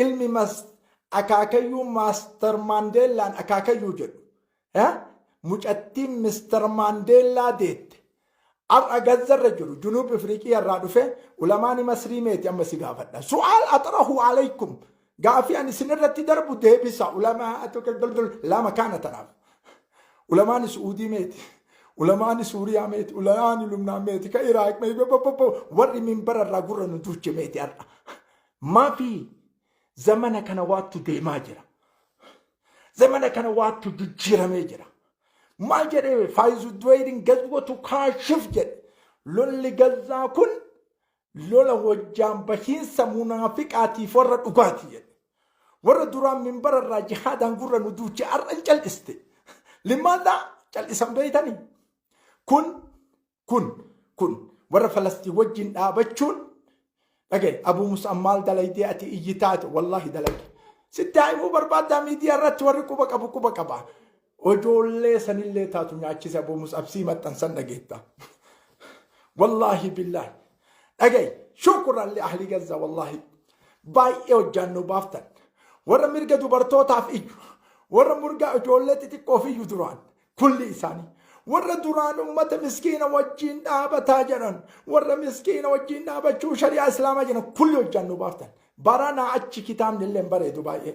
ilmi mas akaakayyuu maaster maandeellaan akaakayyuu jedhu eh, mucattiin mister maandeellaa deette har'a gazzarra jiru junuub ifriiqii irraa dhufe ulamaani masrii meeti amma si gaafadha su'aal axrahu alaykum gaafii ani isin irratti darbu deebisa ulamaa lama kaana tanaaf Ulamaani Su'uudii meeti? Ulamaani Suuriyaa meeti? Ulamaani Lubnaan meeti? Ka Iraaq meeti? Warri minbara irraa gurra nu duuche meeti har'a? Maafi zamana kana waattu deemaa jira. Zamana kana waattu jijjiiramee jira. Maal jedhee faayizu duweerin gazwatu kaashif jedhe. Lolli gazzaa kun lola wajjaan bahiinsa munaafiqaatiif warra dhugaati jedhe. Warra duraan minbara irraa jihaadaan gurra nu duuche har'a hin cal'iste. Limaadhaa cal'isan beeytanii. Kun kun kun warra Falastiin wajjin dhaabachuun dhagaye Abuu Musaan maal dalaydee ati iyyi taate wallaahi dalage. Sitti haimuu barbaaddaa miidiyaa irratti warri quba qabu quba qaba. Ojoollee sanillee taatu nyaachise aboo musabsii maxxansan dhageetta. Wallaahi billaahi. Dhagayi shukuran li ahli gazza wallaahi. Baay'ee hojjaan nu baaftan. Warra mirga dubartootaaf iyyu. Warra mirga ijoollee xixiqqoof iyyu duraan. Kulli isaanii. Warra duraan ummata miskiina wajjiin dhaabataa jedhan. Warra miskiina wajjiin dhaabachuu shari'aa islaamaa jedhan kulli hojjaan nu baaftan. Baranaa achi kitaabni illee hin bareedu baay'ee.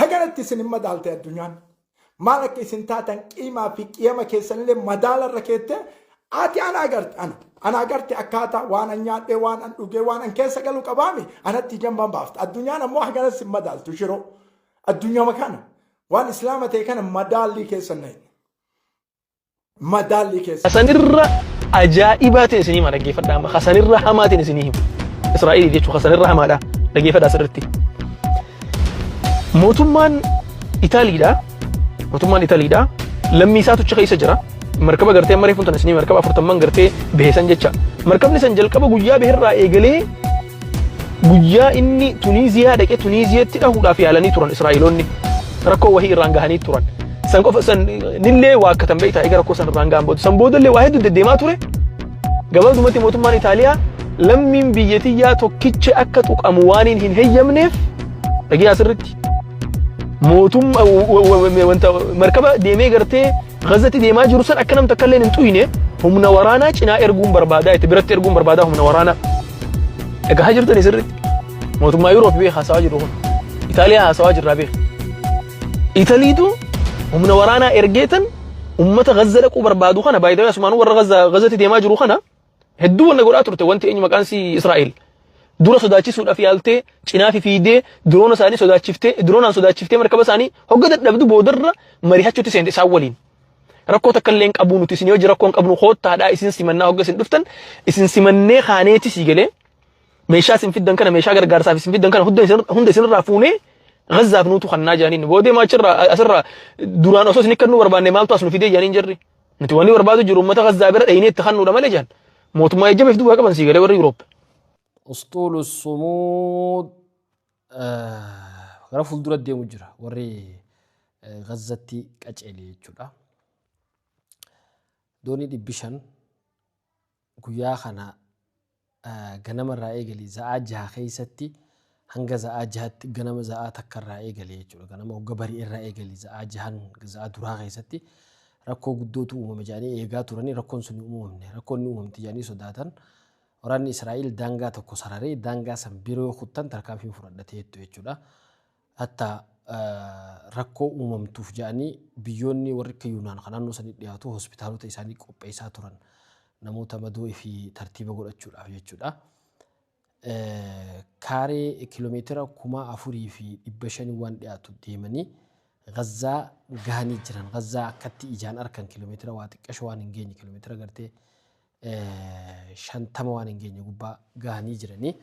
Haganatti isin hin madaalte addunyaan. Maal akka isin taatan qiimaa fi qiyama keessanillee madaala irra keette ati ana agarte ana. Ana agarte akkaataa waan an nyaadhee waan an dhugee waan an keessa galu qabaami anatti jamban baafta. Addunyaan ammoo haganas hin madaaltu shiroo. Addunyama kana waan islaama ta'e kana madaallii keessan na hin. madaallii keessa. Kasanirra ajaa'ibaa ta'e isinii hima dhaggeeffadhaa amma kasanirra hamaa ta'e isinii hima. Israa'eliif jechuun kasanirra hamaadha dhaggeeffadhaa asirratti. Mootummaan Itaaliidha. Mootummaan Itaaliidha. Lammii isaatu achi keessa jira. Markaba gartee amma reefuun tana isinii markaba afurtamman gartee beesan jecha. Markabni san jalqaba guyyaa beherraa eegalee Guyyaa inni Tuniiziyaa dhaqee Tuniiziyatti dhahuudhaaf yaalanii turan Israa'eloonni rakkoo wahii irraan gahanii turan. San qofa san nillee waa akkatan beektaa egaa rakkoo san irraan gahan booda. San booda illee waa hedduu deddeemaa ture. Gabaabdumatti mootummaan Itaaliyaa lammiin biyya tiyyaa tokkicha akka tuqamu waaniin hin heyyamneef dhagiyaa sirritti. Mootummaa wanta markaba deemee gartee Gazati deemaa jiru san akka nam takka illee hin tuyne humna waraanaa cinaa erguun barbaadaa itti biratti erguun barbaadaa humna waraanaa. Dhagahaa jirtani sirriitti. Mootummaa Yuuroop beeka haasawaa jiru kun. Itaaliyaa haasawaa jirraa beeka. Italiitu humna waraanaa ergeetan ummata Gazza dhaquu barbaadu kana baay'ee asumaan warra Gazza Gazzatti deemaa jiru kana Hedduu wanna godhaa turte wanti eenyu maqaan si Israa'el. Dura sodaachisuudhaaf yaaltee cinaafi fiidee diroona isaanii sodaachiftee diroonaan sodaachiftee markaba isaanii hogga dadhabdu boodarra marihachuutti seente isaan waliin. Rakkoo takka illee hin qabuu nuti isin hojii rakkoo hin qabnu koottaadhaa isin simannaa hogga isin dhuftan isin simannee kaaneeti sii galee meeshaa isin fiddan kana meeshaa gargaarsaaf isin fiddan kana hunda isin hunda isinirraa fuunee Gazzaaf nuutu kannaa jaaniin boodee maachirraa asirraa duraan osoo isin kannuu barbaanne maaltu as nu fidee jaaniin jirri Nuti wanni barbaadu jiru uummata Gazzaa bira dhaynee itti kannuudha malee jedhan. Mootummaa jajjabeef duwwaa qaban sii galee warri Yuuroop. Usxuulu Sumuud gara fuuldura deemu jira warri Gazzatti qaceele jechuudha. Doonii dhibbi shan Guyyaa kana ganama irraa eegali za'aa jaha keessatti hanga za'aa jahatti ganama za'aa takka irraa eegali jechuudha. Ganama hogga bari irraa eegali za'aa jahan za'aa duraa keessatti rakkoo guddootu uumame jedhanii eegaa turanii rakkoon sun uumamne rakkoon ni uumamti jedhanii sodaatan. Waraanni Israa'el daangaa tokko sararee daangaa san bira yoo kuttan tarkaanfiin fudhadha ta'eettu jechuudha. Hatta rakkoo uumamtuuf jedhanii biyyoonni warri akka Yuunaan kan naannoo sanii dhiyaatu hospitaalota isaanii qopheessaa turan. Namoota madoo ifii tartiiba godhachuudhaaf jechuudha. Kaaree kiiloomeetira kuma afurii fi dhibba shanii waan dhiyaatu deemanii Gazzaa gahanii jiran. Gazzaa akkatti ijaan arkan kiiloomeetira waa xiqqasho waan hin geenye kiiloomeetira gartee 50 waan hin geenye gubbaa gahanii jiranii.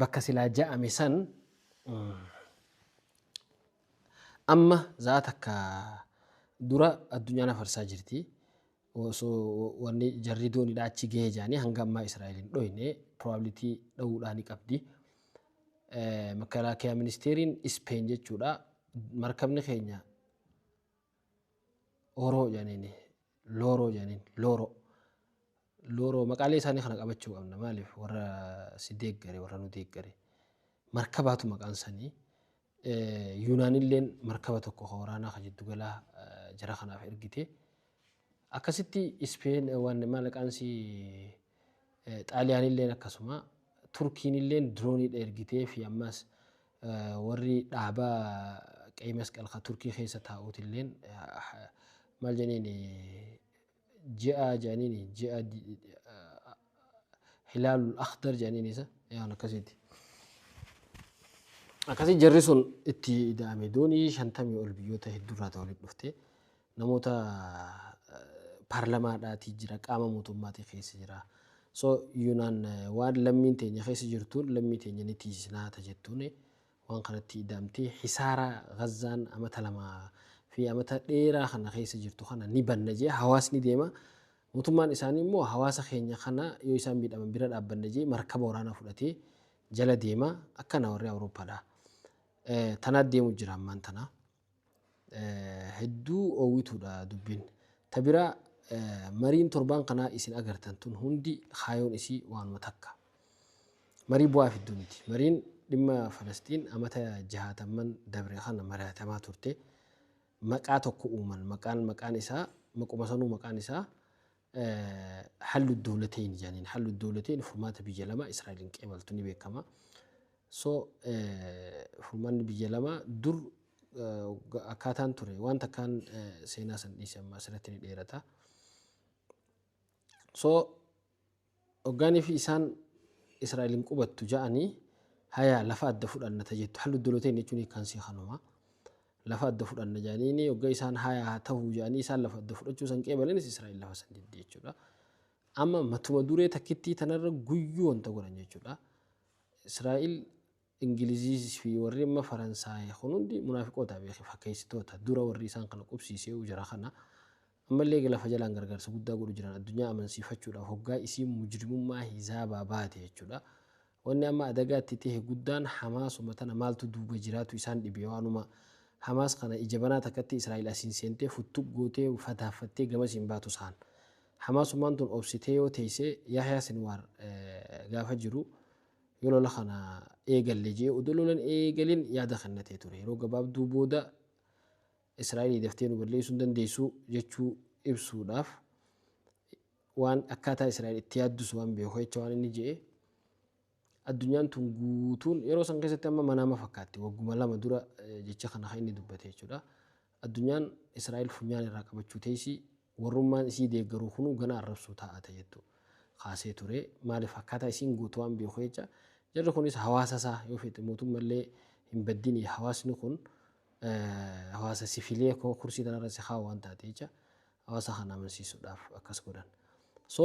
Bakka silaa ja'ame san amma za'a takka dura addunyaan afarsaa jirti. Osoo wanni jarri doonidha achi gahee jaanii hanga ammaa Israa'el hin dhoyne probability dha'uudhaa ni qabdi. Makalaakiyaa ministeeriin Ispeen jechuudha markabni keenya Oro jedhaniin looroo jedhaniin looroo. Looroo maqaalee isaanii kana qabachuu qabna maaliif warra si deeggare warra nu deeggare. Markabaatu maqaan sanii. Yuunaanilleen markaba tokko kan waraanaa kan jiddu galaa jara kanaaf ergite. Akkasitti Ispeen waan maallaqaan si Xaaliyaanilleen akkasuma. Turkiinilleen dirooniidha ergiteefi ammas warri dhaaba Qeyi Masqal ka Turkii keessa taa'uutilleen maal jedhaniin ji'a jedhaniin ji'a hilaalul akhdar jedhaniin isa yaan akkasiiti. Akkasii jarri sun itti ida'ame doonii shantamii ol biyyoota hedduurraa ta walitti dhufte. namoota paarlamaadhaatii jira qaama mootummaatii keessa jira so yuunaan waan lammiin teenya keessa jirtuun lammii teenya ni tiisinaa ta jettuun waan kanatti ida'amtee hisaara gazzaan amata lama fi amata dheeraa kana keessa jirtu kana ni banna jee hawaasni deema mootummaan isaanii immoo hawaasa keenya kana yoo isaan miidhaman bira dhaabbanna jee markaba waraanaa fudhatee jala deema akkana warri awurooppaadha tanaa deemu jira ammaan tanaa hedduu oowwituudha dubbiin. Ta biraa mariin torbaan kanaa isin agartan tun hundi kaayoon isii waanuma takka. Marii bu'aa fiddu miti. Mariin dhimma Falasxiin amata jahaatamman dabre kana mari'atamaa turte maqaa tokko uuman. Maqaan maqaan isaa maquma sanuu maqaan isaa Hallu dowlateyn jaaniin hallu dowlateyn furmaata biyya lamaa Israa'eliin qeebaltu ni beekama. So furmaanni biyya lamaa dur akkaataan ture waan takkaan seenaa san dhiise amma asirratti ni dheerata. So Hoggaan fi isaan, Israa'el hin qubattu ja'anii, hayaa lafa adda fudhanna ta jettu, hal oddoloo teenna jechuun hiikkaan isii kanuma. Lafa adda fudhanna ja'aniini, hogga isaan hayaa haa tahu ja'anii isaan lafa adda fudhachuu san qeebalanis Israa'el lafa san didde jechuudha. Amma matuma duree takkittii tanarra guyyuu wanta godhan jechuudha. Israa'el Ingilizis fi warri amma Faransaay kun hundi munaafiqoota beeki fakkeessitoota dura warri isaan kana qubsiiseeyu jara kana ammallee eega lafa jalaan gargaarsa guddaa godhu jiran addunyaa amansiifachuudhaaf hoggaa isiin mujrimummaa hizaabaa baate jechuudha wanni amma adagaa itti tahe guddaan Hamaasuma tana maaltu duuba jiraatu isaan dhibe waanuma Hamaas kana ija banaa takkatti Israa'iil asiin seentee futtuk gootee fataaffattee gamasiin baatu saan Hamaasumaan tun obsitee yoo teeyse Yahyaa Sinwaar gaafa jiru Yoo lola kana eegalle jee odoo lolan eegalin yaada kennatee ture. Yeroo gabaabduu booda Israa'elii daftee nu balleessuu hin dandeessu jechuu ibsuudhaaf waan akkaataa Israa'el itti yaaddus waan beeku jecha waan inni je'e addunyaan tun guutuun yeroo san keessatti amma manaama fakkaatti wagguma lama dura jecha kana kan inni dubbate jechuudha. Addunyaan Israa'el funyaan irraa qabachuu teessi, warrummaan isii deeggaruu kunuu ganaa arrabsuu taa'ata jettu kaasee ture. Maaliif akkaataa isiin gootu waan beeku jecha. Jarri kunis hawaasa isaa yoo feete mootumma illee hin baddini hawaasni kun hawaasa sifilee koo kursii tanarra si haa waan taate jecha hawaasa kana amansiisuudhaaf akkas godhan. So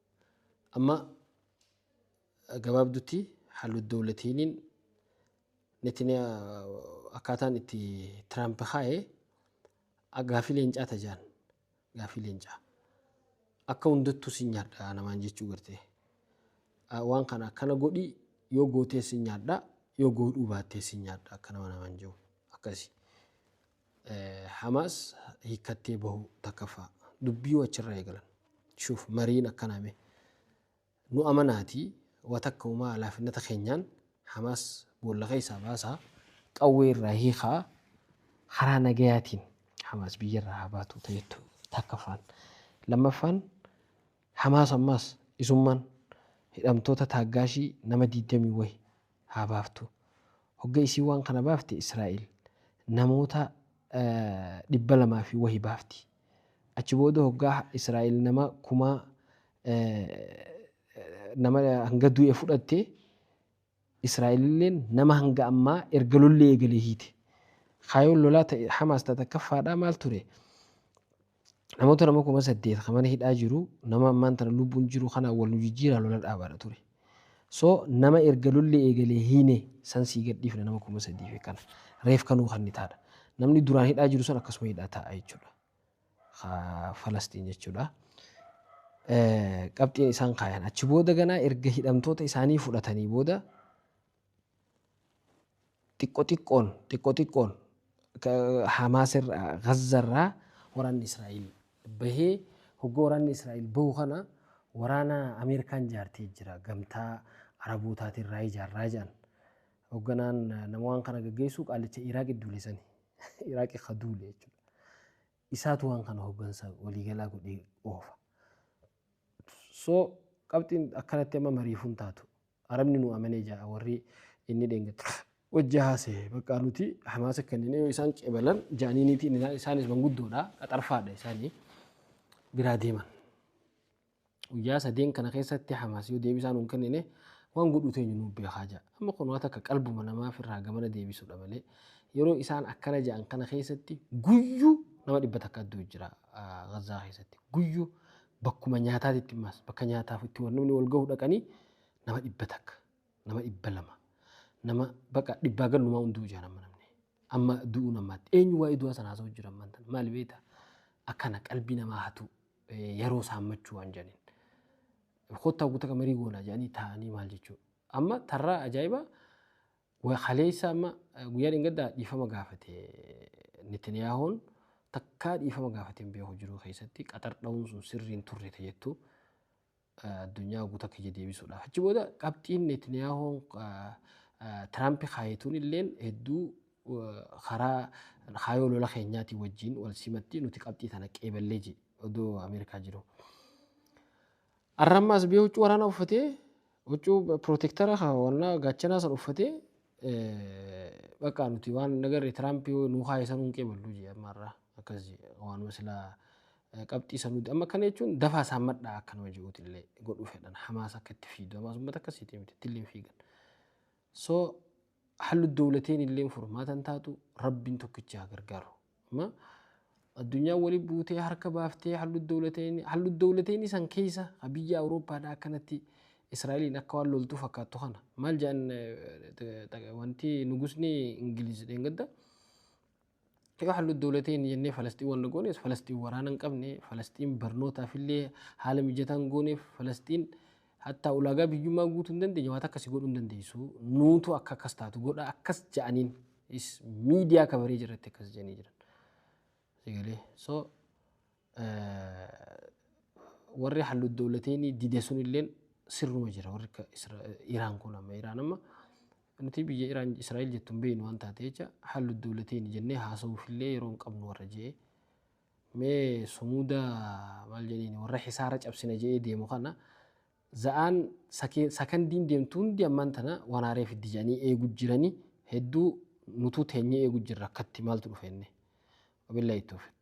Amma gabaabdutti Haalud Dowlatiiniin Netaniyaa akkaataan itti Tiraamp kaa'e gaafii leencaa tajaan gaafii leencaa akka hundattuu si nyaadha namaan jechuu gartee waan kana akkana godhi yoo gootee si nyaadha yoo goodhuu baattee si nyaadha akka nama namaan jiru akkasi Hamaas hiikkattee bahuu 1ffaa dubbiyu achirraa eegalan. Shuuf mariin akkanaa mee. Nu amanaatii wa takka umaa alaafinnata keenyaan Hamaas boolla keessaa baasaa qawwee irraa hiikaa karaa nagayaatiin Hamaas biyyarraa haa baatu ta'eettu 1ffaan. 2ffaan Hamaas ammaas isummaan hidhamtoota taaggaashii nama 20 wahi haa baaftu. Hogga isiin waan kana baafte Israa'iil namoota dhibba lamaa fi wahi baafti. Achi booda hoggaa Israa'iil nama kuma nama hanga du'e fudhatte Israa'iililleen nama hanga ammaa erga lolli eegale hiite. Kaayoon lolaa ta Hamaas ta takkaffaadhaa maal ture? Namoota nama kuma saddeet kan mana hidhaa jiru nama ammaan tana lubbuun jiru kanaan wal nu jijjiiraa lola dhaabaadha ture. So nama erga lolli eegalee hiine san sii gadhiifna nama kuma sadii fi kana reef kan nuu kannitaadha. Namni duraan hidhaa jiru san akkasuma hidhaa taa'a jechuudha. Ka Falastiin jechuudha. Eh, Qabxiin isaan kaayan achi booda ganaa erga hidhamtoota isaanii fudhatanii booda Xiqqo xiqqoon, xiqqo xiqqoon Hamaas irraa, Gaza irraa waraanni Israa'el bahee hogga waraanni Israa'el bahu kana waraana Ameerikaan jaartee jira gamtaa Arabootaatiin irraa ijaarraa jedhan. Hogganaan nama waan kana gaggeessu qaalicha Iraaq idduule sani. Iraaq ka duule jechuudha. Isaatu waan kana hoggansa waliigalaa godhee oofa. So qabxiin akkanatti amma mariifuu hin taatu. Arabni nu amanee ja'a warri inni dheengadda wajji haasa'e. Bakka nuti Hamaasa kennine yoo isaan qebalan ja'aniiniiti isaanis manguddoodha qaxarfaadha isaanii biraa deeman. Guyyaa sadeen kana keessatti Hamaas yoo deebisaa nu hin kennine waan godhuu teenyu nu beekaa ja'a. Amma kun waa takka qalbuma namaaf irraa gamana deebisuudha malee yeroo isaan akkana ja'an kana keessatti guyyu nama dhibba takka adduu jira Gazzaa keessatti guyyu bakkuma nyaataatitti immaas bakka nyaataaf itti wal namni wal gahu dhaqanii nama dhibba takka nama dhibba lama nama baqa dhibbaa gallumaa hunduu jaan amma namni amma du'uu namaatti eenyu waa'ee du'aa sana haasa'u jira ammaan tan maali beekta akkana qalbii namaa hatu yeroo saammachuu waan jedhaniin kottaa guutaa marii goonaa jedhanii taa'anii maal jechuudha Amma tarraa ajaa'iba wa- kaleessa amma eh, guyyaa dheengaddaa dhiifama gaafate Netaniyaahoon takkaa dhiifama gaafate hin beeku jiruu keessatti qaxar dha'uun sun sirrii hin turre ta jettu eh, addunyaa guutuu akka ija deebisuudhaaf. Achi booda qabxiin Netaniyaahoon eh, eh, Tiraampi kaayetuun illeen hedduu eh, karaa kaayoo lola keenyaatii wajjin wal simatti nuti qabxii tana qeeballee jedhe odoo Ameerikaa jiru. Arra amma as bee huccuu waraanaa uffatee huccuu pirootektara kan wannaa gaachanaa san uffatee bakka nuti waan nagarre Tiraamp yoo nuu kaa'e san hunqee ballu jee amma arra akkas jee waanuma silaa qabxii san nuti amma akkana jechuun dafaa isaan madhaa akka nama je'uuti illee godhuu fedhan hamaas akka itti fiidu hamaas uummata akkasiiti miti itti illee hin fiigan so Hallu dowlateen illeen furmaata hin taatu Rabbiin tokkichi haa gargaaru. Amma addunyaan wali buutee harka baaftee hallu dowlateen hallu dowlateen san keessa ha biyya Awurooppaadha akkanatti Israa'eliin akka waan loltuu fakkaattu kana maal jedhan wanti nugusni Ingiliz dheengadda Yoo hallu dawlateen jennee Falasxiin wanna goonees Falasxiin waraana hin qabne, Falasxiin barnootaaf illee haala mijataa hin gooneef, Falasxiin hattaa ulaagaa biyyummaa guutuu hin dandeenye waa takka si godhuu hin dandeessu. Nuutu akka akkas taatu godha akkas ja'aniin is miidiyaa kabaree jirratti akkas ja'anii jiran. Sigalee. So warri hallu dawlateeni dide sunilleen sirruma jira warri akka Iraan kun amma Iraan amma nuti biyya Iraan Israa'el jettu hin beeknu waan taate jecha hallu dawlateeni jennee haasa'uufillee yeroo hin qabnu warra je'ee mee sumuuda maal jedheen warra hisaara cabsina je'ee deemu kana za'aan sakandiin deemtu hundi ammaan tana waan haaree fiddi jedhanii eegu jiranii hedduu nutuu teenyee eegu jirra akkatti maaltu dhufeenne. Wabillahi tawfiq.